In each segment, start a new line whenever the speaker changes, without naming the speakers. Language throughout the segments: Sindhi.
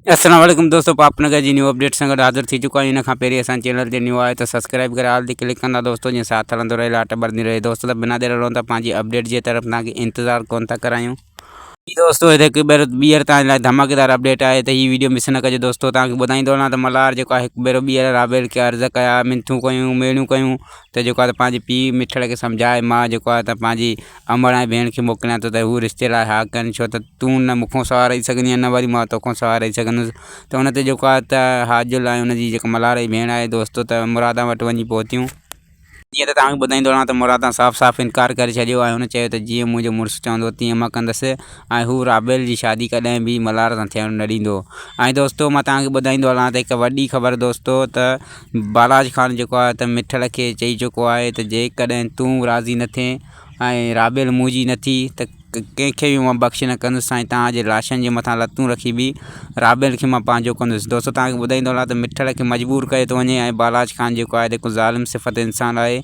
السلام عليڪم دوستو پاپ نگر جي نيو اپڊيٽ سان گڏ حاضر ٿي چڪا آهيون ان کان پهرين اسان چينل تي نيو آهيو ته سبسڪرائب ڪري آل تي ڪلڪ ڪندا دوستو جيئن ساٿ هلندو رهي لاٽ ٻرندي رهي دوستو ته بنا دير روند پنهنجي اپڊيٽ جي طرف تان کي انتظار ڪون ٿا ڪرايون جي دوستو هتي هڪ ڀيرو ٻيهر تان لاء ڌماڪيدار اپڊيٽ آهي ته هي ويڊيو مس نه ڪجو دوستو تان کي ٻڌائيندو هلان ته ملهار جيڪو آهي هڪ ڀيرو ٻيهر رابيل کي عرض ڪيا منٿون ڪيون ميڙيون ڪيون ته جيڪو آهي ته پنهنجي پيء مٺڙ کي سمجهائي مان جيڪو آهي ته پنهنجي امڙ ۽ ڀيڻ کي موڪليان ٿو ته هو رشتي لاء ها ڪن، ڇو ته تون نه مون کان سواء رهي سگهندينء ۽ نه وري مان تو کان سواء رهي سگهندس. ته ان تي جيڪو آهي ته حاجل ۽ ان جي جيڪا ملهارئي ڀيڻ آهي دوستو ته مرادان وٽ وڃي پهتيون. جيئن ته توهان کي ٻڌائيندو رهان ته مرادان صاف صاف انڪار ڪري ڇڏيو ۽ هن چيو ته جيئن منهنجو مڙس چوندو تيئن مان ڪندس ۽ هو رابيل جي شادي ڪڏهن به ملهار سان ٿيڻ نه ڏيندو. ۽ دوستو مان توهان کي ٻڌائيندو هلان ته هڪ وڏي خبر دوستو ته بالاچ خان جيڪو آهي ته مٺڙ کي چئي چڪو آهي ته جيڪڏهن تون راضي نه ٿئين ۽ رابيل منهنجي نه ٿي ته ڪنهن کي به مان بخشي نه ڪندس سائين توهان جي لاشن جي مٿان لتون رکي به رابيل کي مان پنهنجو ڪندس دوستو توهان کي ٻڌائيندو هلان ته مٺڙ کي مجبور ڪيو ٿو وڃي ۽ بالاچ خان جيڪو آهي هڪ ظالم صفت انسان آهي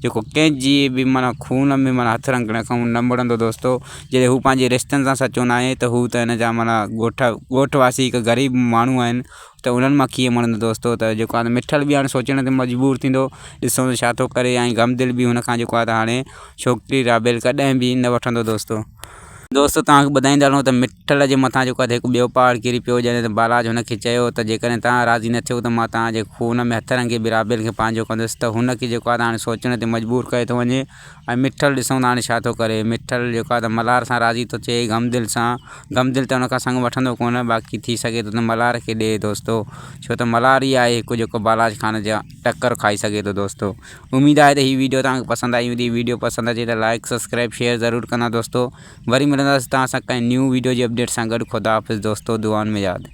جيڪو ڪنهن جي به معنيٰ خون ۾ معنيٰ هٿ رنگڻ کان نه مڙندو دوستو جڏهن هو پنهنجي رشتن سان سچو ناهي ته هو ته هن جا معنيٰ ڳوٺ ڳوٺ واسي هڪ غريب ماڻهو آهن ته انهن مان ڪيئن مڙندو دوستو ته جيڪو هاڻي مٺل به هاڻي سوچڻ تي مجبور ٿيندو ڏسو ته ڇا ٿو ڪري ۽ غم دل به هن کان جيڪو آهي ته هاڻي ڇوڪري رابيل ڪڏهن به نه وٺندو دوستو. دوستو توهان کي ٻڌائيندا هلون ته مٺل جي مٿان جيڪو آهي ته هڪ ٻيو پهاڙ ڪري پيو جڏهن ته بالاج هن کي چيو ته جيڪڏهن توهان راضي نه ٿيو ته مان توهان جي خون ۾ هٿ رنگي به رابيل کي پنهنجو ڪندس ته هن کي جيڪو آهي ته هاڻي سوچڻ تي مجبور ڪيو ٿو وڃي ۽ مٺل ڏسون ته هاڻي ڇا ٿو ڪري. مٺل جيڪو آهي ته ملهار سان راضي ٿو ٿئي غم دل سان. غم دل ته هن کان سڱ وٺندو ڪونه باقي ٿي سگهي ٿو ته ملهار کي ڏئي دوستو. ڇو ته ملهار ئي آهي هڪ جيڪو بالاچ خان جا ٽڪر کائي سگهي ٿو دوستو. اميد آهي ته هي ويڊيو توهان کي پسند آئي هوندي. ويڊيو پسند اچي ته لائيڪ سبسڪرائيب شيئر ضرور ڪندا دوستو. وري ملنداسين توهان سان ڪنهن نيون ويڊيو جي اپڊيٽ سان گڏ خداحافظ دوستو دعائن ۾ ياد.